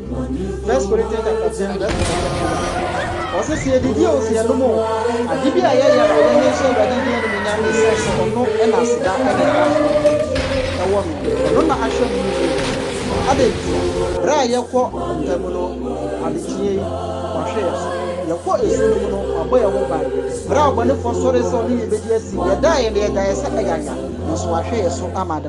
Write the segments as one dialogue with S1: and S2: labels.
S1: First Corinthians chapter ten verse number twenty-one. Ɔsɛ sɛ yɛdidi o, sɛ yɛnom o, ade bi a yɛyɛ no yɛnyɛ nhyɛ Awurade din animuonyam esiane sɛ ɔno na aseda ne nkwagye wɔ no. Ɔno na ahwɛ mo mu biara. Adɛn ntia? Bere a yɛkɔ mpa mu no, adekyee yi, wahwɛ yɛn so. Yɛkɔ esu no mu no, wabɔ yɛn ho ban. Bere a ɔbɔnefoɔ sɔree sɛ ɔne yɛn bedi asi, yɛdaeɛ na yɛgyaeɛ sɛ ayanya, nanso wahwɛ yɛn so ama ada.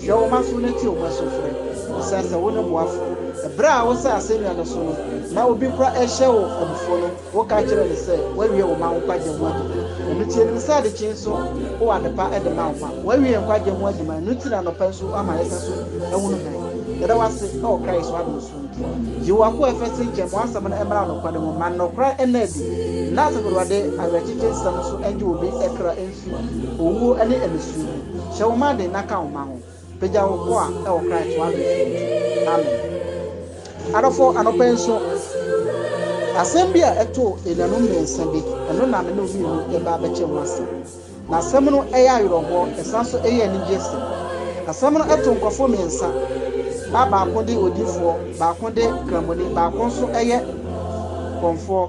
S1: Hwɛ wɔn aso na tie wɔn asufrɛ. Bisa sɛ wone boafo. Bere a wosaa asennua no so no, na obi kura rehyɛ wo abufuw no, woka kyerɛɛ no sɛ, Woawie wo mma wo nkwagye ho adwuma. Ɛno nti, yenim sɛ adekyee nso wowɔ adepa de ma wo mma. Woawie yɛn nkwagye ho adwuma, ɛno nti na anɔpa nso woama yɛsan so ahunu hann. Yɛda wo ase wɔ Christ ho adom so nti. Yiw, w'akoa Efese nkyɛn ma w'asɛm no mmra nokware mu. Ma nokora nna adi, na Asafo Awurade awerɛkyekye nsɛm nso ngye obi kra mfi. Owuo ne anisuo mu. Hyɛ wo ma den na ka wo ma ho. Pagya wo koa wɔ Christ w'abrɛ so nti. Amen. Adɔfo, anɔpa nso, asɛm bi a ɛtoo anuanom mmiɛnsa bi, ɛno na me ne wo mmienu reba abɛkyɛ ho asɛm. Na asɛm no yɛ awerɛhoɔ, ɛsan nso yɛ anigyeɛ sɛm. Asɛm no to nkorɔfoɔ mmiɛnsa, na baako de odiyifoɔ, baako de kramoni, baako nso yɛ kɔmfoɔ.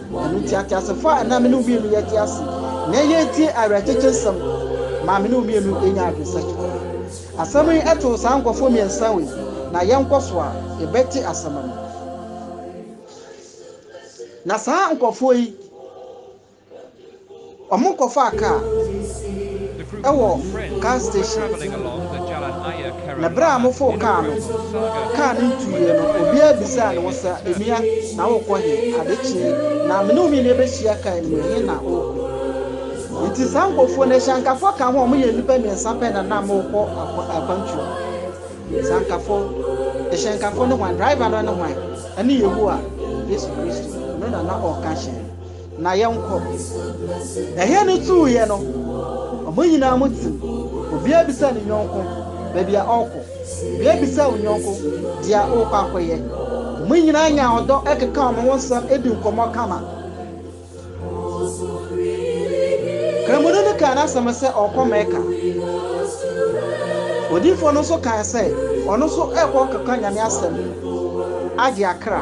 S1: Ɛno nti, ateasefo a na me ne wo mmienu yɛte ase nnɛ yi retie awerɛkyekye nsɛm ma me ne wo mmienu anya adwensakye. Asɛm yi too saa nkurɔfo mmiɛnsa wei, na yɛnkɔ so a, yɛbɛte asɛm no. Na saa nkurɔfoɔ yi Wɔkɔfaa kaa wɔ gas station, na bere a wɔfoo kaa no, kaa no ntuiɛ no, obiara bisaa ne ho sɛ, Nua, na worekɔ he? Ade kyee, na me ne wo mmienu yɛbɛhyia kaa no mu, ɛhe na worekɔ? Nti saa nkurɔfoɔ no, asiankafoɔ ka ho a, wɔyɛ nnipa mmiɛnsa pɛ na na wɔrekɔ akwantuo no. Asiankafoɔ, hyɛnkafoɔ ne hwan? Driver no ne hwan? Ɛne Yehowa, Yesu Kristo. Ɔno na na ɔreka hyɛn no. Na yɛnkɔ. Ɛhɛn no tuuiɛ no, wɔn nyinaa mu tsim, obiara bisaa ne yɔnko baabi a ɔrekɔ, obiara bisaa wɔn yɔnko deɛ ɔrekɔ akɔyɛ. Wɔn nyinaa nyaa ɔdɔ kekaa wɔn ho nsɛm dii nkɔmmɔ kama. Kramoni no kaa n'asɛm sɛ ɔrekɔ Mecca. Odiyifoɔ no nso kae sɛ ɔno nso rekɔ rekɔka Nyame asɛm agye akra.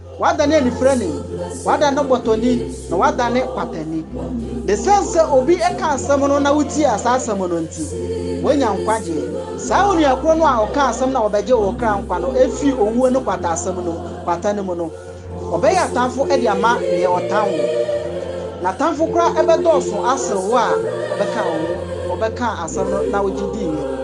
S1: Wadane anifirani, wadane bɔtɔni, na wadane kwatani. Esiane sɛ obi ka asɛm no na wotie saa asɛm no nti, wanya nkwagyeɛ. Saa onua korɔ no a ɔkaa asɛm no a wɔbɛgye wo kra nkwa no firi owuo ne kwatasɛm no mu, kwata no mu no, ɔbɛyɛ atamfo de ama deɛ ɔtan wo. N'atamfo koraa bɛdɔɔso asene wo a ɔbɛkaa wo ho, ɔbɛkaa asɛm no na wogye diiɛ no.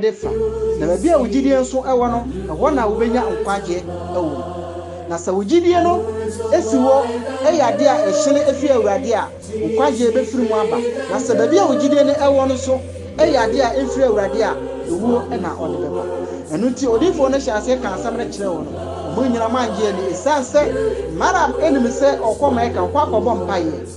S1: de fa, na baabi a wo gyidie nso wɔ no, ɛhɔ na wobɛnya nkwagyeɛ wɔ mu. Na sɛ wo gyidie no si hɔ yɛ adeɛ a ɛhyene firi Awurade a, wo nkwagyeɛ bɛfiri mu aba. Na sɛ baabi a wo gyidie no wɔ no nso yɛ adeɛ a ɛmfiri Awurade a, ewuo na ɔde bɛba. Ɛno nti odiyifoɔ no hyɛɛ aseɛ kaa asɛm no kyerɛɛ wɔn, wɔn nyinaa ann gye anni, ɛsiane sɛ Miriam nim sɛ ɔrekɔ Mɛka hɔ akɔbɔ mpaeɛ.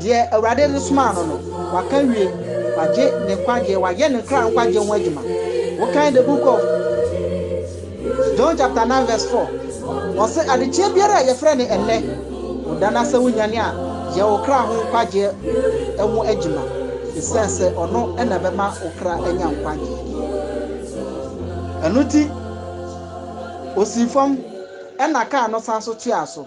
S1: Deɛ Awurade de somaa no no, waka awie, wagye ne nkwagyeɛ, wayɛ ne kra nkwagyeɛ ho adwuma. Wokan the book of John chapter 9 verse 4, ɔse adekyeɛ biara a yɛfrɛ no ɛnnɛ, woda no asɛ wonyane a, yɛ wo kra ho nkwagyeɛ ho adwuma, esiane sɛ ɔno na ɛbɛma wo kra anya nkwagyeɛ. Ɛno nti osii fam ɛna kaa no san so toaa so.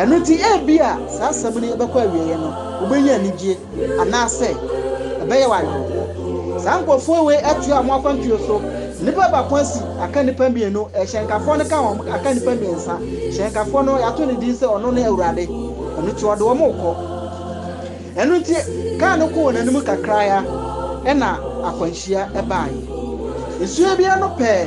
S1: Ɛno nti, ebia saa asɛm no bɛkɔ awieeɛ no, wobɛnya anigyeɛ, anaasɛ ɛbɛyɛ wo awerɛhoɔ. Saa nkurɔfoɔ wei atoa wɔn akwantuo so. Nnipa baako asi aka nnipa mmienu, hyɛnkafoɔ no ka ho aka nnipa mmiɛnsa. Hyɛnkafoɔ no, yɛato no din sɛ ɔno ne Awurade, ɛno nti ɔde wɔn rekɔ. Ɛno nti, kaa no kɔɔ wɔn anim kakra ara, ɛnna akwanhyia baeɛ. Nsuo biara no pɛɛ.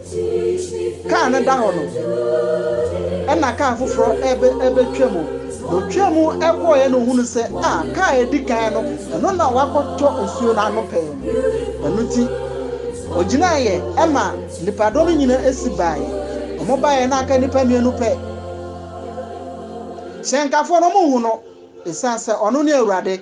S1: Kaa no da hɔ no, ɛnna kaa foforɔ reba rebɛtwam. Na ɔtwaa mu kɔeɛ na ɔhunuu sɛ, a, kaa a ɛdi kan no, ɛno na wɔakɔtɔ nsuo no ano pɛɛ no. Ɛno nti, ɔgyinaeɛ ma nnipadɔm no nyinaa si baeɛ. Wɔbaeɛ na aka nnipa mmienu pɛ. Hyɛnkafoɔ no, wɔnhu no, ɛsiane sɛ ɔno ne Awurade.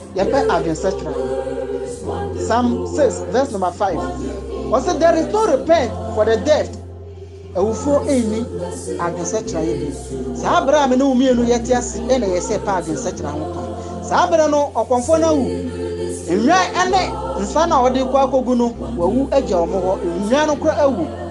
S1: Yɛpɛ adwensakyera yi. Psalm six verse number five, ɔse there is no repent for the dead, awufoɔ nni adwensakyera yi bio. Saa berɛ a me ne wo mmienu yɛte ase yi na ɛyɛ sɛ yɛpɛ adwensakyera ho kwan. Saa berɛ no ɔkɔmfoɔ no awu. Nnwan ne nsa no a wɔde rekɔ akɔgu no, wɔawu agya wɔn hɔ. Nnwan no koraa awu.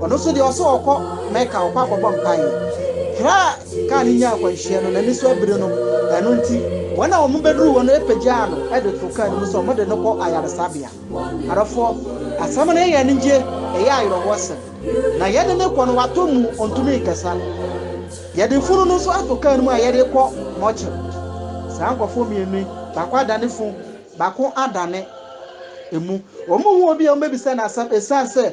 S1: Ɔno nso deɛ ɔse ɔkɔ Mecca ɔkɔ akɔbɔ mpaeɛ. Berɛ a kaa no nyaa akwanhyia no, n'ani so abire no, ɛno nti wɔn a wɔn bɛduruu hɔ no pagyaa no de too kaa no mu sɛ wɔn de no kɔ ayaresabea. Adɔfoɔ, asɛm no yɛ yɛn anigye, ɛyɛ ayerɛhoɔ sɛm. Na yɛde no rekɔ no watɔ muu, ɔntumi nkasa. Yɛde funu no nso ato kaa no mu a yɛde rekɔ mortuary. Saa nkorɔfoɔ mmienu yi, baako adane funu, baako adane emu. Wɔn mu obiara wɔbɛbisa no asɛm ɛsiane sɛ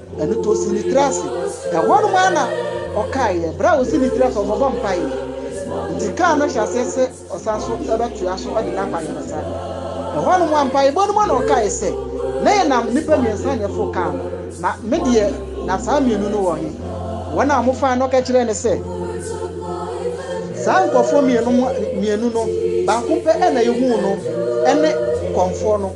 S1: Ɛno nti ɔsii ne tiri ase. Ɛhɔnom ara na ɔkaeɛ, berɛ a ɔsii ne tiri ase, ɔbɔbɔ mpaeɛ. Nti kaa no hyɛ aseɛ sɛ ɔsan nso bɛtoa so de n'akwaayaresa. Ɛhɔnom ara, mpaebɔ no mu na ɔkaeɛ sɛ, Na yɛnam nnipa mmiɛnsa na ɛforo kaa no, na me deɛ, na saa mmienu no wɔ he? Wɔn a wɔfaeɛ no, ɔka kyerɛɛ no sɛ, Saa nkurɔfoɔ mmienu no, baako pɛ na yɛhuu no, ɛne kɔmfoɔ no.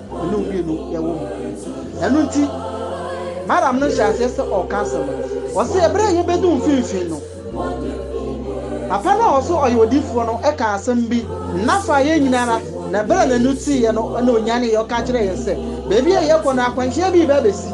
S1: me ne wo mmienu yɛwɔ mu. Ɛno nti, Madam no hyɛɛ aseɛ sɛ ɔreka asɛm no. Ɔse ɛberɛ a yɛbɛduu mfimfini no, papa no a ɔse ɔyɛ odiyifoɔ no kaa asɛm bi na faa yɛn nyinaa ara, na ɛberɛ a n'ani teeɛ no na ɔnyaneeɛ, ɔka kyerɛɛ yɛn sɛ baabi a yɛrekɔ no akwanhyia bi rebɛsi.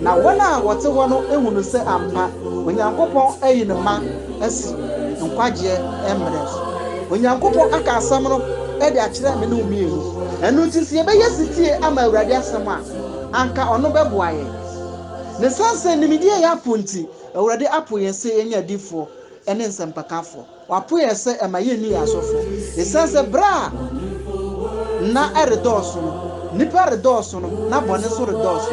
S1: Na wɔn a wɔte hɔ no hunu sɛ ampa Onyankopɔn ayi ne mma asi nkwagyeɛ mmerɛ so. Onyankopɔn aka asɛm no de akyerɛ me ne wo mmienu. Ɛno nti sɛ yɛbɛyɛ setie ama Awurade asɛm a, anka ɔno bɛboa yɛn. Na ɛsiane sɛ nimdeɛ yɛ apo nti, Awurade apo yɛn sɛ yɛnyɛ adiyifoɔ ne nsɛmpakafoɔ. Wɔapo yɛn sɛ ɛma yenni yɛn asɔfo. Esiane sɛ bere a nna redɔɔso no, nnipa redɔɔso no, na bɔne nso redɔɔso.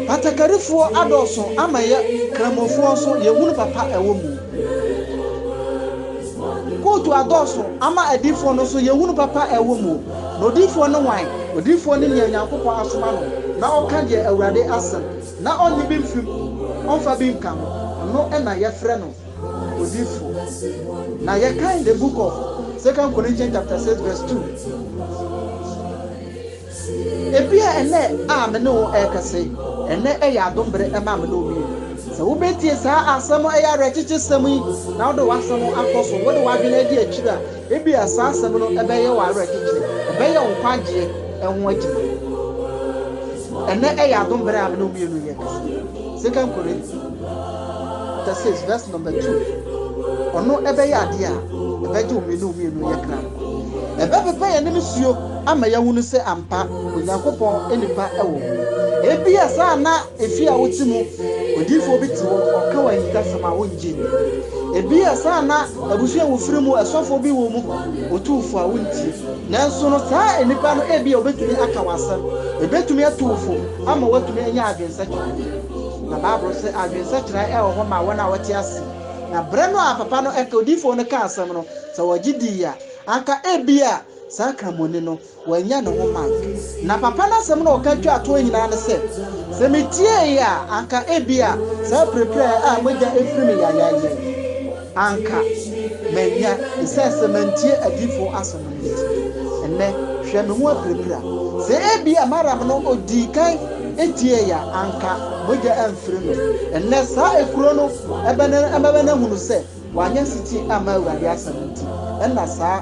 S1: Batakarifoɔ adɔɔso ama yɛ Kramofoɔ nso yɛhunu papa a ɛwɔ mu. Kootu adɔɔso ama adiyifoɔ no nso yɛhunu papa a ɛwɔ mu. Na odiyifoɔ ne hwan? Odiyifoɔ ne nea Onyankopɔn asoma no na ɔka deɛ Awurade asɛm, na ɔnnye bi mfiri mu, ɔmfa bi nka ho. Ɔno na yɛfrɛ no odifo. Na yɛkan the book of Second Corinthians chapter six verse two. Ebia ɛnɛ a me ne wo ɛrekɛse, ɛnɛ ɛyɛ adom bere ɛma me ne wo mmienu. Sɛ wobetie saa asɛm ɛyɛ awerɛkyekye sɛm yi na wode w'asɛm akɔ so, wode w'adwene adi akyiri a, ebia saa asɛm no ɛbɛyɛ wo awerɛkyekye, ɛbɛyɛ wo nkwagyeɛ ɛho adwuma. Ɛnɛ ɛyɛ adom bere a me ne wo mmienu yɛ kɛse. Second Corinthians. chapter six verse number two ɔno ɛbɛyɛ adeɛ a ɛbɛgye wo mmienu mmienu yɛ kra nkwa ɛbɛpepa yɛn anim suo ama yɛahunu sɛ ampa onyankopɔn nipa ɛwɔ hɔ ebi a saa na efi a wote mu odiifoɔ bi te hɔ ɔka wɔ ahintasɛm a wongye nni ebi a saa na abusua wofiri mu ɛsɔfoɔ bi wɔ mu otumfoɔ a wontie nanso no saa nipa no ebi a obetumi aka wɔ asɛm ebetumi ato wo fam ama watumi anya adwensakyi Na Bible se, Adwene sɛkyerɛ wɔ hɔ ma wɔn a wɔte ase. Na bere no a papa no ka odiyifo no kaa asɛm no, sɛ wɔgye dii a, anka ebia saa Kramoni no, wannya ne ho mark. Na papa no asɛm no a ɔka twaa toɔ nyinaa ne sɛ, Sɛ mitiee a, anka ebia saa pirapira a mogya firi me yayayɛ. Anka manya sɛ sɛ mantie adiyifo asɛm no nti, ɛnnɛ hwɛ me ho apirapira. Sɛ ebia Maram no odii kan tiei a, anka mogya amfiri no. Ɛnnɛ saa ekuro no bɛn na ɛbɛma no ahunu sɛ wanyɛ setie amma Awurade asɛm nti na saa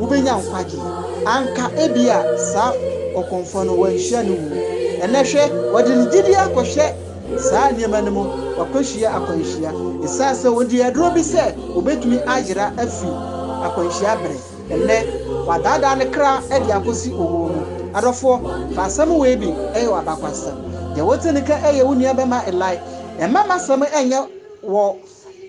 S1: wobenya nkwagye. Anka ebia saa ɔkɔmfoɔ no wanhyia ne wuo. Ɛnnɛ hwɛ, wɔde ne gyidie akɔhyɛ saa nneɛma no mu, wakɔhyia akwanhyia, ɛsiane sɛ ɔdii aduro bi sɛ ɔbɛtumi ayera afiri akwanhyia bere. Ɛnnɛ wadaadaa ne kra de akɔsi owuo mu. Adɔfoɔ, fa asɛm wei bi yɛ w'abakwasɛm. Deɛ wote no ka yɛ wo nuabɛma Eli. Mma m'asɛm nyɛ wɔ.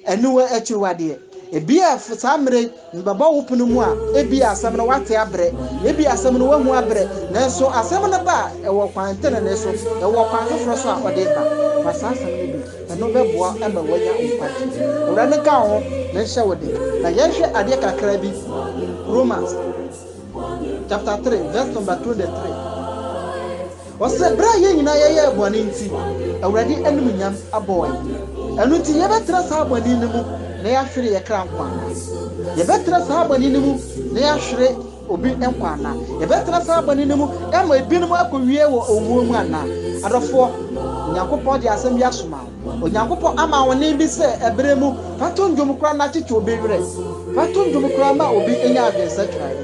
S1: Ɛno akyiwadeɛ, ebia saa mmerɛ yi mebɛbɔ wo pono mu a, ebia asɛm no woate abrɛ, ebia asɛm no woahu abrɛ, nanso asɛm no ba a, ɛwɔ kwan tenenee so, ɛwɔ kwan foforɔ so a ɔde ba. Fa saa asɛm no bi, ɛno bɛboa ama woanya nkwagyeɛ. Awurade nka wo ho na nhyɛ wo den. Na yɛnhwɛ adeɛ kakra bi, Romans chapter three verse number twenty three. Ɔsɛ berɛ a yɛn nyinaa yɛyɛɛ bɔne nti, Awurade animuonyam abɔɔ yɛn. Ɛno nti yɛbɛtra saa bɔne no mu na yɛahwere yɛn kra nkwa anaa? Yɛbɛtra saa bɔne no mu na yɛahwere obi nkwa anaa? Yɛbɛtra saa bɔne no mu na ama ebinom akɔwie wɔ owuo mu anaa? Adɔfoɔ, Onyankopɔn de asɛm bi asoma wo. Onyankopɔn ama ahoɔden bi sɛ ɛberɛ mu, fa to nnwom koraa na kyekye obi werɛ. Fa to nnwom koraa ma obi nya adwensakra bi.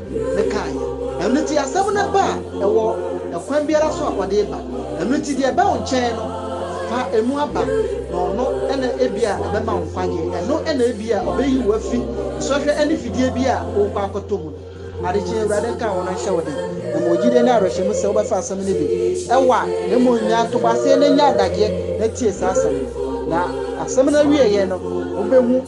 S1: de kaeɛ. Ɛno nti asɛm no ba a, ɛwɔ ɛkwan biara so a ɔde reba. Ɛno nti deɛ ɛba wo nkyɛn no, fa ɛmu aba, na ɔno na ebia ɛbɛma wo nkwagyeɛ. Ɛno na ebia ɔbɛyi wo afi nsɔhwɛ ne fidie bi a worekɔ akɔtɔ mu no. Ade kye Awurade nka wo na ɔnhyɛ wo den. Na mewɔ gyidie ne awerɛhyɛmu sɛ wobɛfa asɛm no bi. Ɛwɔ a, na mmom nya ntoboaseɛ na nya adagyeɛ na tie saa asɛm no. Na asɛm no awieeɛ no, wobɛhu.